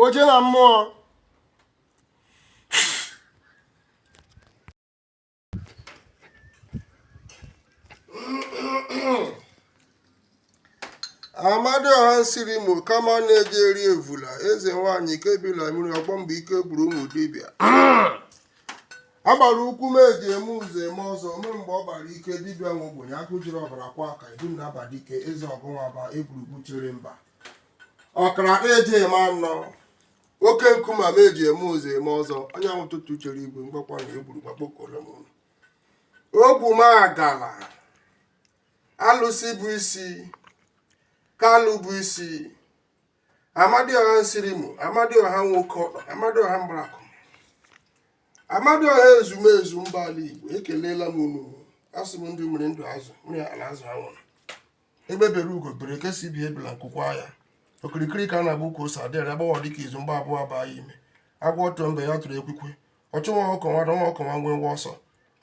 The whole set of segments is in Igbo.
oje na mmụọ amadioha nsirimo kama na-eji eri evula eze nwanyị ke bi la mmiri ọgbọ mgbe ike gwụrụ ụmụ dibịa agbara ukwu m eji eme ụzọ eme ọzọ ome mgbe ọ gbara ike dibịa nwe ogbenye agụ jiri ọbara kwọọ aka edu na aba dike eze ọgụnwa ba egwurugwu chere mba ọkara eji eme ọnụ oke nkume m eji eme ụzọ eme ọzọ anyanwụ ụtụtụ chere igwe mgbakwa na egburu gbakpokolo m ụlọ ogwu m agala alụsị bụ isi kalụ bụ isi amadioha nsirimo amadioha nwoke ọkpa amadioha mgbarakụ amadioha ezumezu mba ala igbo ekelela m unu asị m ndụ mmiri ndụ azụ mmiri atala azụ anwụla egbe bere ugo bere ke sị ibe ebila nku kwaa ya okirikiri ka a na-agba ukwu ose adịghị agbawa dịka izu mgba abụọ abaa ya ime agwọ tụọ mbe ya tụrụ ekwikwe ọchụ nwa ọkụkọ nwe ada nwa ọkụkọ nwe ngwe ngwe ọsọ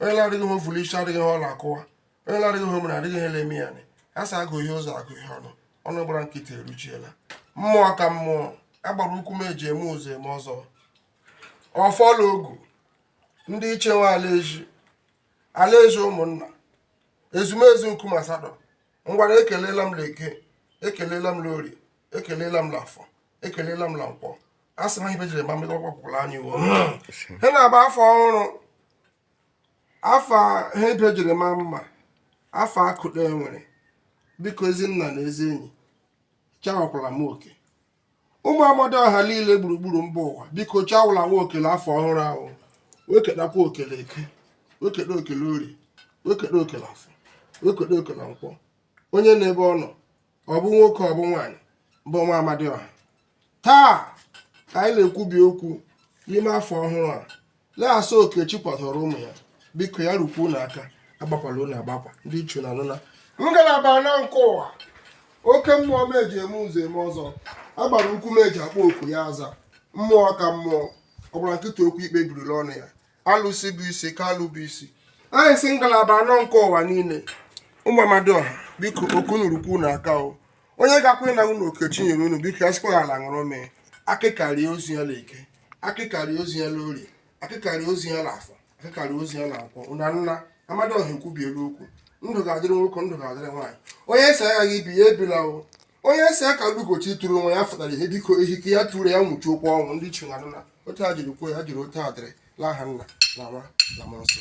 onye na-adịghị ihe o vu la isi adịghị ihe ọ la-akụwa onye na-adịghị ihe o mere adịghị ihe na-eme ya a sị agụ ihe ụzọ agụ ihe ọnụ ọnụ gbara nkịtị eruchiela mmụọ ka mmụọ agbara ukwu m eji eme ụzọ eme ọzọ ọfọ la ogu ndị ichie nwe ala ezi ala ezi ụmụnna ezumezu nkume asatọ ngwara ekelela m l'eke ekelela m l'ori ekelela m l'afọ ekelela m la nkwọ a sị na ihe ibe jiri ma mma akọkwala anyị uwe ha na-agba afọ ọhụrụ afọ a ibe jiri ma mma afọ akụda e were biko ezi nna na ezi enyi chawakwala m oke ụmụ amadioha niile gburugburu mba ụwa biko chawụla m oke la afọ ọhụrụ ahụ wekedakwa oke la eke wekede oke la ori wekede oke la afọ wekede oke la nkwọ onye na ebe ọ nọ ọ bụ nwoke ọ bụ nwaanyị bụ nwa amadioha taa ka anyị na-ekwubi okwu n'ime afọ ọhụrụ a na-asị oke chi kwadoro ụmụ ya biko ya rukwu unu aka agbakwala unu agba aka ndị ichie nna nọ na ngalaba anọ nke ụwa oke mmụọ m eji eme ụzọ eme ọzọ agbara ukwu m eji akpọ oku ya aza mmụọ ka mmụọ ọ gbara nkịtị okwu ikpe biri la ọnụ ya alụsị bụ isi kalụ bụ isi anyị si ngalaba anọ nke ụwa niile ụmụ amadioha biko oke unu rukwu unu aka o onye ga-akwụ na unu oke chi nyere unu biko ya sikwa ala ṅụrụ mee akịka rie ozu ya l'eke akịka rie ozu ya l'ori akịka rie ozu ya l'afọ akịka rie ozu ya na nkwọ na nna amadioha ekwubiela okwu ndụ ga-adịrị nwoke ndụ ga-adịrị nwaanyị onye sị agaghị ibi ya ebila o onye sị aka lugochi tụrụ onwe ya fụtara ihe biko ehike ya tụrụ ya nwụchi okwu ọnwụ ndị ichie na nna otu e jiri kwuo ya jiri otu a dịrị l'aha nna na nwa na mmụọ nsọ